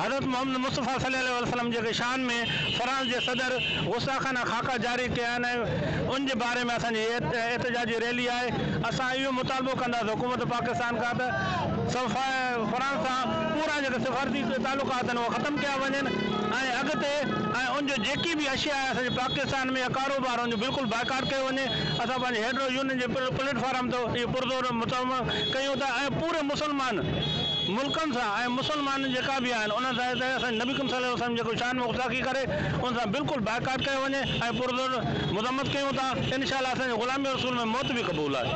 حضرت محمد مصطفيٰ صلي الله عليه وسلم جي شان ۾ فرانس جي صدر غصاخانه خاڪا جاري ڪيا آهن ۽ ان جي باري ۾ اسان جي هيء احتجاجي ريلي آهي. اسان اهو مطالبو ڪنداسين حڪومت پاڪستان کان ته فرانس سان پورا جيڪي سفارتي تعلقات آهن اهي ختم ڪيا وڃن ۽ اڳتي ۽ ان جو جيڪي به اشيا آهي اسان جي پاڪستان ۾ يا ڪاروبار ان جو بلڪل بائيڪاٽ ڪيو وڃي. اسان پنهنجي هيڊرو يونين جي پليٽ فارم تي اهو پرزور مطالبو ڪيون ٿا ۽ پوري مسلمان ملڪن سان ۽ مسلمان جيڪا به آهن انهن سان ته اسان جي نبي ڪريم صلي الله عليه وسلم جيڪو شان ۾ غستاخي ڪري ان سان بلڪل بائيڪاٽ ڪيو وڃي ۽ پرزور مذمت ڪيون ٿا ان شاء الله اسان جي غلامي رسول ۾ موت به قبول آهي.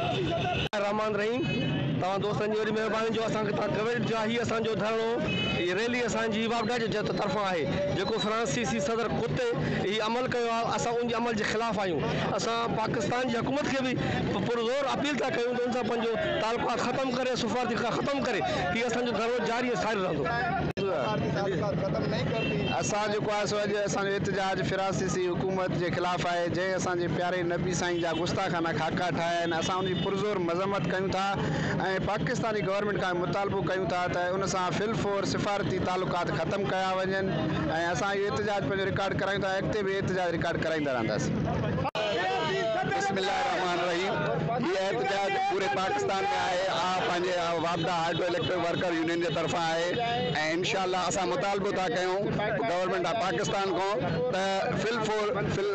الرحمان الرحيم توهان دوستن جي وڏي مهرباني جو اسان کي توهان ڪوريج ڏيا هي اسان جو ڌرڻو هي ريلي اسان جي واپڊا جي جٿ طرفان آهي جيڪو فرانسيسي صدر ڪتي هي عمل ڪيو آهي اسان ان جي عمل جي خلاف آهيون اسان پاڪستان جي حڪومت کي به پرزور اپيل ٿا ڪيون ته ان سان پنهنجو تعلقات ختم ڪري سفارتي ڪم ختم ڪري هي اسان جو ڌرڻو جاري ۽ ساري رهندو. اسان جيڪو آهي سو اڄ اسان جو احتجاج فرانسيسي حڪومت جي خلاف آهي جنهن اسان جي پياري نبي سائين جا گستاخانه خاڪا ٺاهيا آهن اسان ان جي پرزور مذمت ڪيون ٿا ۽ پاڪستاني گورنمينٽ کان مطالبو ڪيون ٿا ته ان سان في الفور سفارتي تعلقات ختم ڪيا وڃن ۽ اسان اهو احتجاج پنهنجو رڪارڊ ڪرايون ٿا ۽ اڳتي به احتجاج رڪارڊ ڪرائيندا رهنداسين. بسم الله الرحمٰن الرحيم. هي احتجاج پوري پاڪستان ۾ آهي، آء پنهنجي واپڊا هائڊرو اليڪٽرڪ ورڪر يونين جي طرفان آهي ۽ انشاء الله اسان مطالبو ٿا ڪيون گورنمينٽ آف پاڪستان کان ته فل فور فل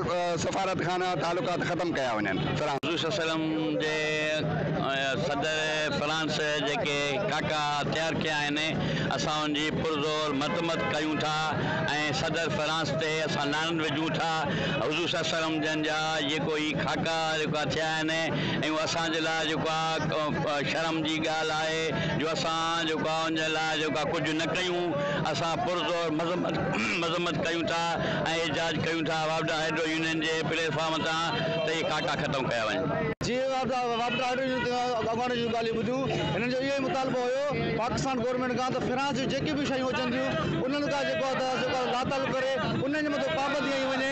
سفارت خانه تعلقات ختم ڪيا وڃن. حضور صلي الله عليه وسلم جي صدر فرانس جيڪي ڪاڪا تيار ڪيا آهن اسان ان جي پرزور مذمت ڪيون ٿا ۽ صدر فرانس تي اسان لعنت وجهون ٿا حضور صلي الله عليه وسلم جن جا جيڪو هي خاڪا جيڪا ٿيا آهن ۽ اهو اسان جي لاء جيڪو آهي شرم جي ڳالهه آهي جو اسان جيڪو آهي ان جي لاء جيڪو آهي ڪجهه نه ڪيون اسان پرزور مذمت مذمت ڪيون ٿا ۽ احجاج ڪيون ٿا وابڊا هائڊرو يونين جي پليٽ فارم تان ته اهي خاڪا ختم ڪيا وڃن. جي وابڊا وابڊا هائڊرو يونين جي اڳواڻن جون ڳالهيون ٻڌيون هنن جو اهو ئي مطالبو هيو پاڪستان گورنمينٽ کان ته فرانس جون جيڪي به شيون اچن ٿيون انهن کان جيڪو آهي ته جيڪو آهي لاتعلق ڪري انهن جي مٿان پابندي هنئي وڃي.